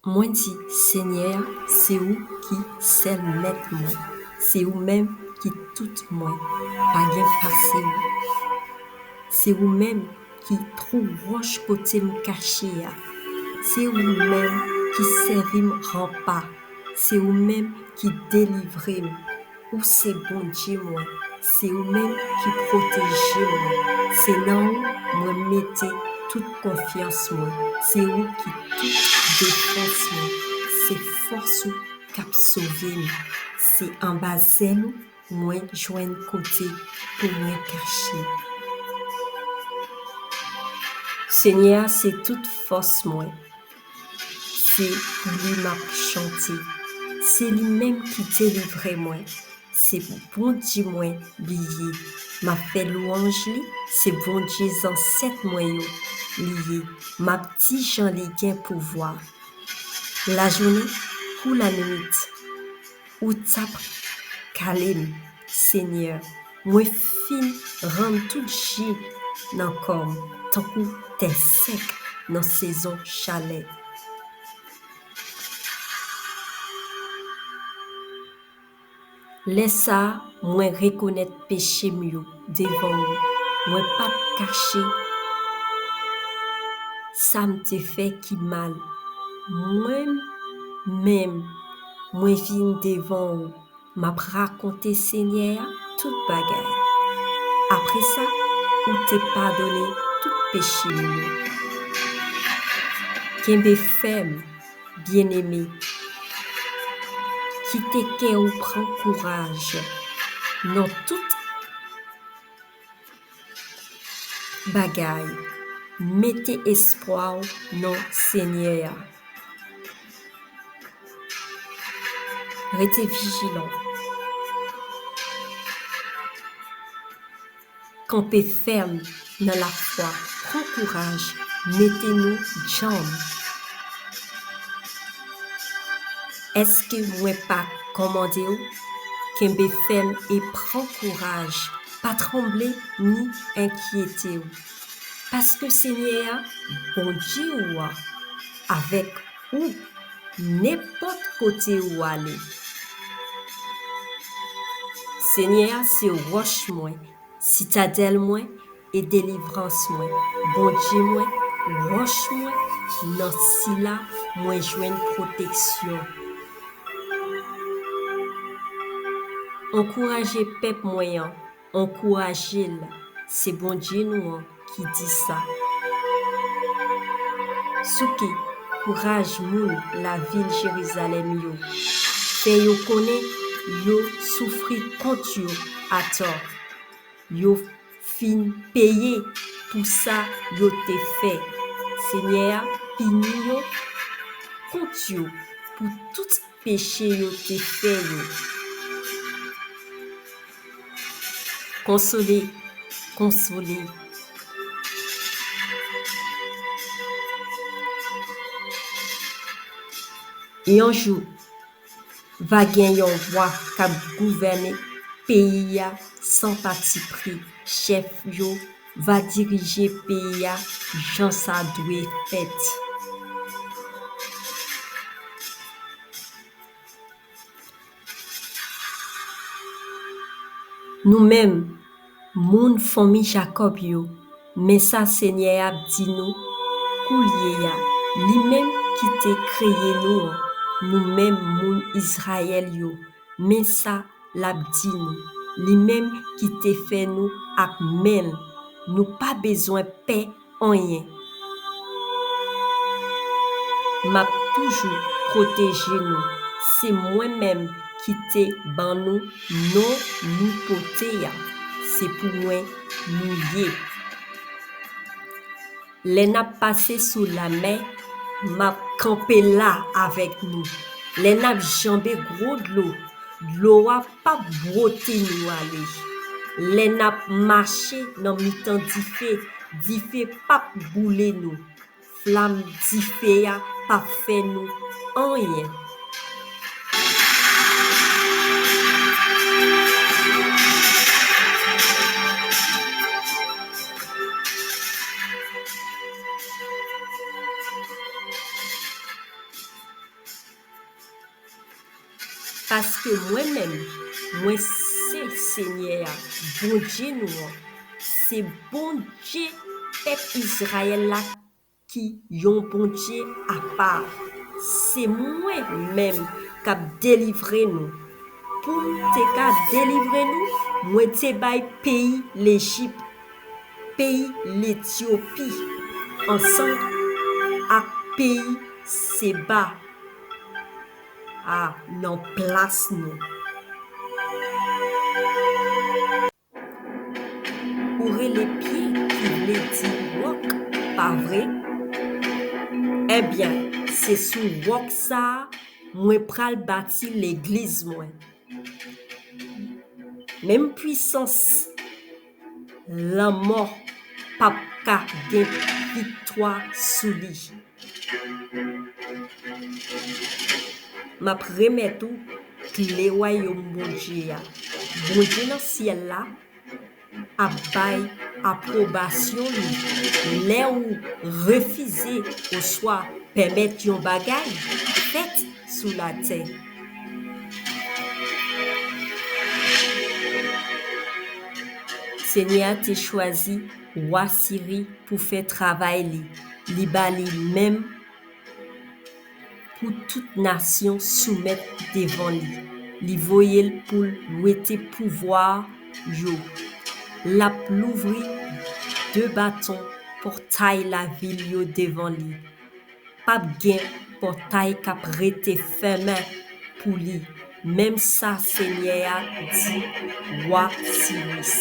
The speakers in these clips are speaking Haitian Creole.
Mwen di, Senyè a, se ou ki sèl mèt mwen, se ou menm ki tout mwen, pa gen pase ou. Se ou menm ki twou wòch kote m kache a, se ou menm ki sèvi m ranpa, se ou menm ki delivre m. Ou se Bondye mwen, se ou menm ki pwoteje mwen, se nan ou mwen mete tout konfyans mwen, se ou ki tout defans mwen, se fòs ou kap sove m, se anba zèl ou mwen jwenn kote pou mwen kache. Senyè a se tout fòs mwen, Se pou li m ap chante. Se li menm ki delivre mwen. Se Bondye mwen li ye. M ap fè lwanj li. Se Bondye zansèt mwen yo li ye. M ap di jan li gen pouvwa. Lajounen kou lannuit. Ou tap kalem seigneur mwen fin rann tout ji nan kòm tankou tè sèk nan sezon chalè. Lè sa mwen rekonèt peche m yo devan ou mwen pap kache sa m te fè ki mal mwen menm. mwen vin devan ou, m ap rakonte Senyè a tout bagay. Apre sa, ou te padone tout peche m yo. Kenbe fèm, byeneme, kite kè ou pran kouraj nan tout. bagay mete espwa w nan senyè a rete vijilan kanpe fèm nan lafwa pran kouraj mete nou djanm. Eske mwen pa kòmande ou? Kenbe fèm e pran kouraj, pa tranble ni enkyete ou. Paske Senyè a, Bondye ou a, avèk ou nenpòt kote ou ale. Senyè a se wòch mwen, sitadèl mwen, E delivrans mwen, Bondye mwen, wòch mwen, nan Sila mwen jwenn pwoteksyon. Ankouraje pèp mwen an, ankouraje l, se Bondye nou an ki di sa. Souke, kouraj moun lavil Jerizalèm yo, fè yo konnen yo soufri kont yo atò. Yo fin peye pou sa yo te fè. Senyè a pini yo kont yo pou tout peche yo te fè yo. Konsole, konsole. Yon jou, Va gen yon vwa kap gouvène peyi a san pati pri, chèf yo va dirije peyi a jan sa dwe fèt. Nou menm, Moun fanmi Jakòb yo, men sa Senyè a ap di nou, Koulye a, li menm ki te kreye nou an, nou menm moun Izrayèl yo, men sa l ap di nou, li menm ki te fè nou ak men l, nou pa bezwen pè, anyen map toujou proteje nou se mwen menm ki te ban nou non nou pote a se pou mwen nou ye lè nap pase sou lamè map kanpe la avèk nou lè nap janbe gwo dlo dlo a Pap bwote nou ale. Lè n ap mache nan mitan dife, dife pap boule nou. Flam dife a pap fè nou anyen. Paske mwen menm, mwen se Senyè a, Bondye nou an, se Bondye pèp Izrayèl la ki yon Bondye apa. Se mwen menm k ap delivre nou. Pou m te ka delivre nou, mwen te bay peyi Lejip. peyi Letyopi ansanm ak peyi Seba a nan plas nou. Ou rele pye ki vle di wòk, pa vre? Ebyen, se sou wòk sa a mwen pral bati Legliz mwen. Menm pwisans lanmò pap ka gen viktwa sou li. Map remèt ou kle wayom Bondye a. Bondye nan syèl la. ap bay apwobasyon li lè ou refize oswa pèmèt yon bagay fèt sou latè. Senyè a te chwazi wa Siri pou fè travay li, li ba li menm. Pou tout nasyon soumèt devan li. Li voye l pou l wete pouvwa yo. L ap louvri de baton pòtay lavil yo devan li. Pap gen pòtay k ap rete fèmen pou li, menm sa Senyè a di wa Siris.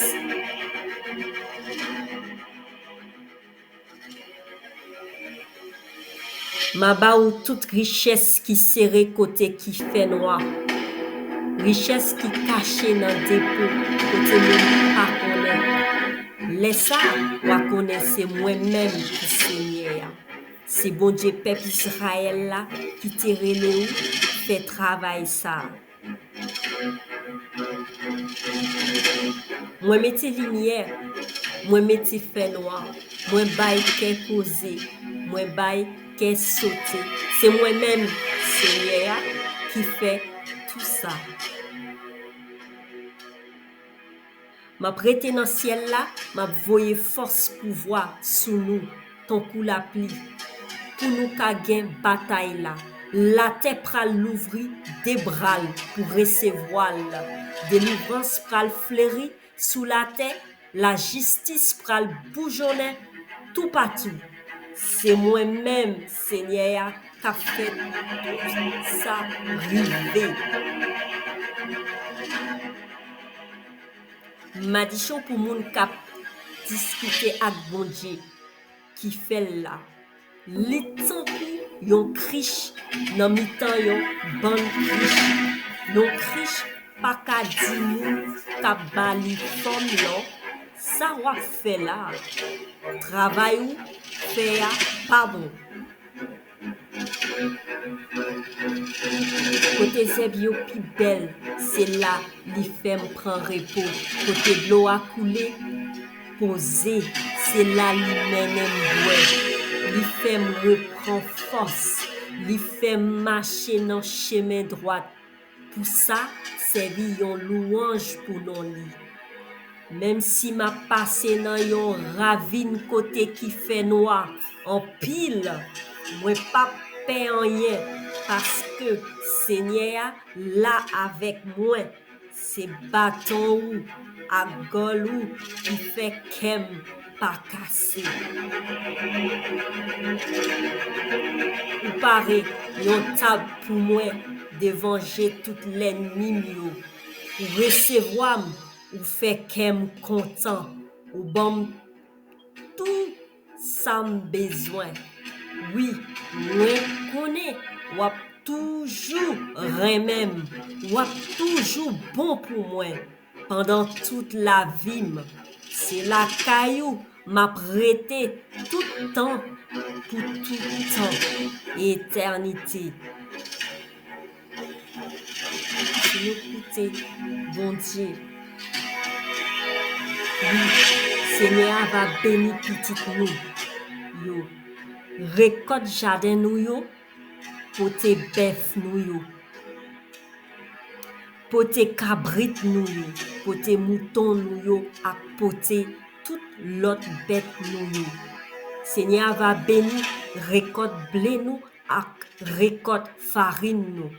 M a ba ou tout richès ki sere kote ki fènwa Richès ki kache nan depo kote moun pa konnen Lè sa a, w a konnen se mwen menm ki Senyè a Se Bondye pèp Izrayèl la ki te rele ou fè travay sa a. Mwen mete limyè, mwen mete fè nwa, mwen bay kè poze, mwen bay kè sote. Se mwen menm, Senyè a, ki fè tou sa. M ap rete nan syèl la, m ap voye fòs pouvwa sou nou tankou lapli pou nou ka gen batay la. Latè pral louvri de bra l pou resevwa l. Delivrans pral fleri sou latè, lajistis pral boujonnen toupatou. Se mwen menm, Senyè a, k ap fè tout sa rive. Madichon pou moun kap diskite ak Bondye ki fè l la. Li tankou yon krich nan mitan yon bann krich. Yon krich pa ka di moun kap ba li fòm lan, Sa w ap fè la a? Travay ou fè a pa bon. Kote zèb yo pi bèl se la li fèm pran repo Kote dlo a koule poze se la li mennenm bwè Li fèm repran fòs, li fèm mache nan chemen dwat. Pou sa, sèvi yon louwanj pou non li. Menm si m ap pase nan yon ravin kote ki fènwa anpil, mwen pap pè anyen, paske Senyè a la avèk mwen, se baton ou ak gòl ou ki fè kè m pa kase. Ou pare yon tab pou mwen devan je tout lènmi m yo. Ou resevwa m, ou fè kè m kontan, ou ban m tou sa m bezwen. Wi, mwen konnen w ap toujou renmen m, w ap toujou bon pou mwen. Pandan tout lavi m. Se lakay ou m ap rete tout tan pou tout tan etènite. Si nou koute Bondye, wi, Senyè a va beni pitit nou yo, rekòt jaden nou yo, pote bèf nou yo. Pote kabrit nou yo, pote mouton nou yo ak pote tout lòt bèt nou yo. Senyè a va beni rekòt ble nou ak rekòt farin nou.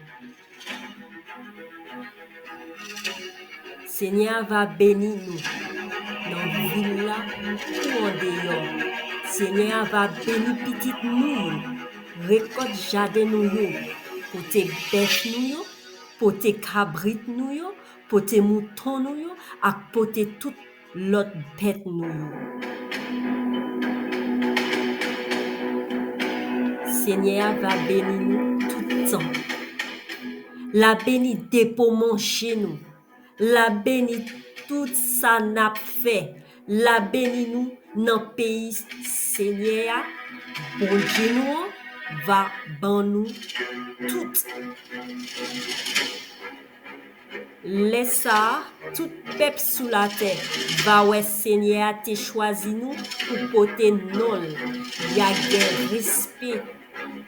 Senyè a va beni nou nan vil la kou andeyò. Senyè a va beni pitit nou yo, rekòt jaden nou yo, pote bèf nou yo Pote kabrit nou yo, pote mouton nou yo ak pote tout lòt bèt nou yo. Senyè a va beni nou tout tan. L a beni depo manje nou. L a beni tout sa n ap fè. La beni nou nan peyi Senyè a, Bondye nou an va ban nou tout. Lè sa a, tout pèp sou latè va wè Senyè a te chwazi nou pou pote non l, y a gen respe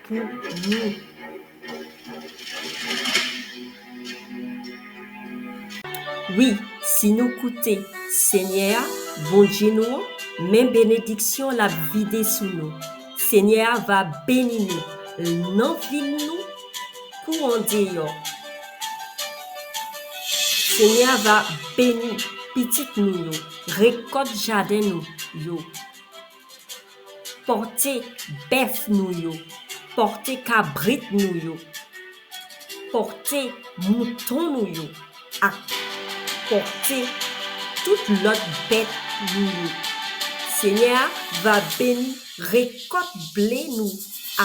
pou nou. Wi, si nou koute Senyè a, Bondye nou an, men benediksyon l ap vide sou nou. Senyè a va beni nou, l nan vil nou kou andeyò. Senyè a va beni pitit nou yo, rekòt jaden nou yo. Pòte bèf nou yo. Pòte kabrit nou yo. Pòte mouton nou yo ak pòte tout lòt bèt nou yo. Senyè a va beni rekòt ble nou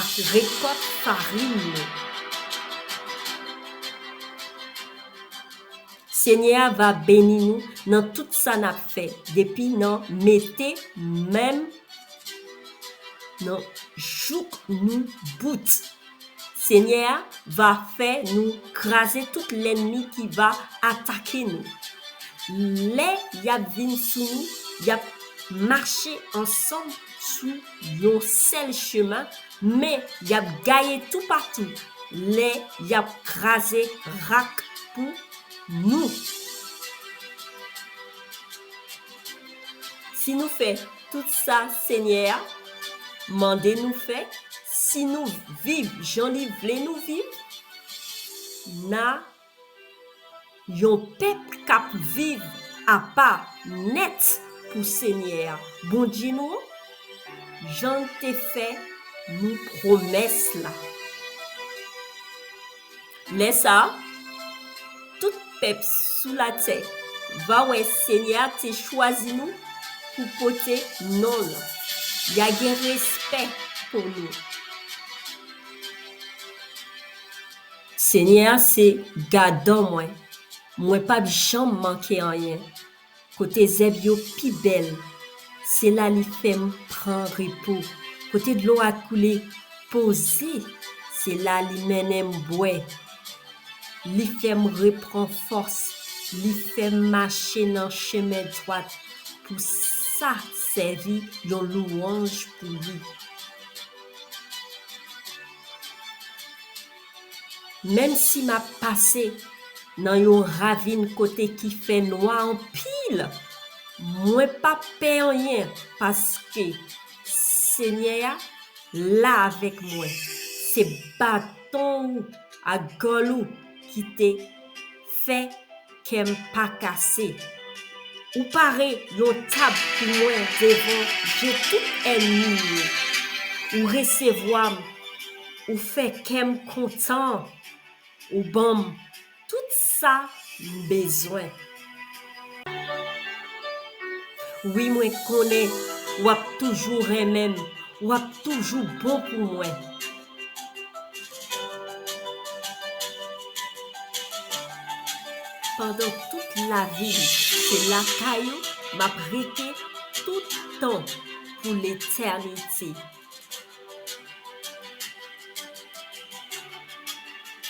ak rekòt farin nou. Senyè a va beni nou nan tout sa nap fè depi nan mete menm nan jouk nou bout senyè a va fè nou kraze tout lènmi ki va atake nou lè yap vin sou nou yap mache ansanm sou yon sèl chemen Men yap gaye tou patou lè yap kraze rak pou Nou. Si nou fè tout sa Senyè a mande nou fè, si nou viv jan li vle nou viv, na Yon pèp k ap viv apa nèt pou Senyè a, Bondye nou an, jan l te fè nou pwomès la. Lè sa a, tout pèp sou latè va wè Senyè a te chwazi nou pou pote non l, y a gen respè pou nou. Senyè a se gadan mwen, mwen p ap janm manke anyen, kote zèb yo pi bèl, se la li fè m pran repo, kote dlo a koule poze, se la li mennen m bwè. Li fè m repran fòs, li fè m mache nan chemen dwat, pou sa sèvi yon louwanj pou li. Menm si m ap pase nan yon ravin kote ki fè nwa anpil, mwen p ap pè anyen, paske, Senyè a, la avèk mwen, se baton ou ak gòl ou ki te fè kèm pa kase Ou pare yon tab pou mwen devan je tout ènmi m yo Ou resevwa m Ou fè kè m kontan Ou ban m tout sa m bezwen Wi mwen konnen w ap toujou renmen m W ap toujou bon pou mwen Pandan tout lavi m se lakay ou m ap rete tout tan pou letènite.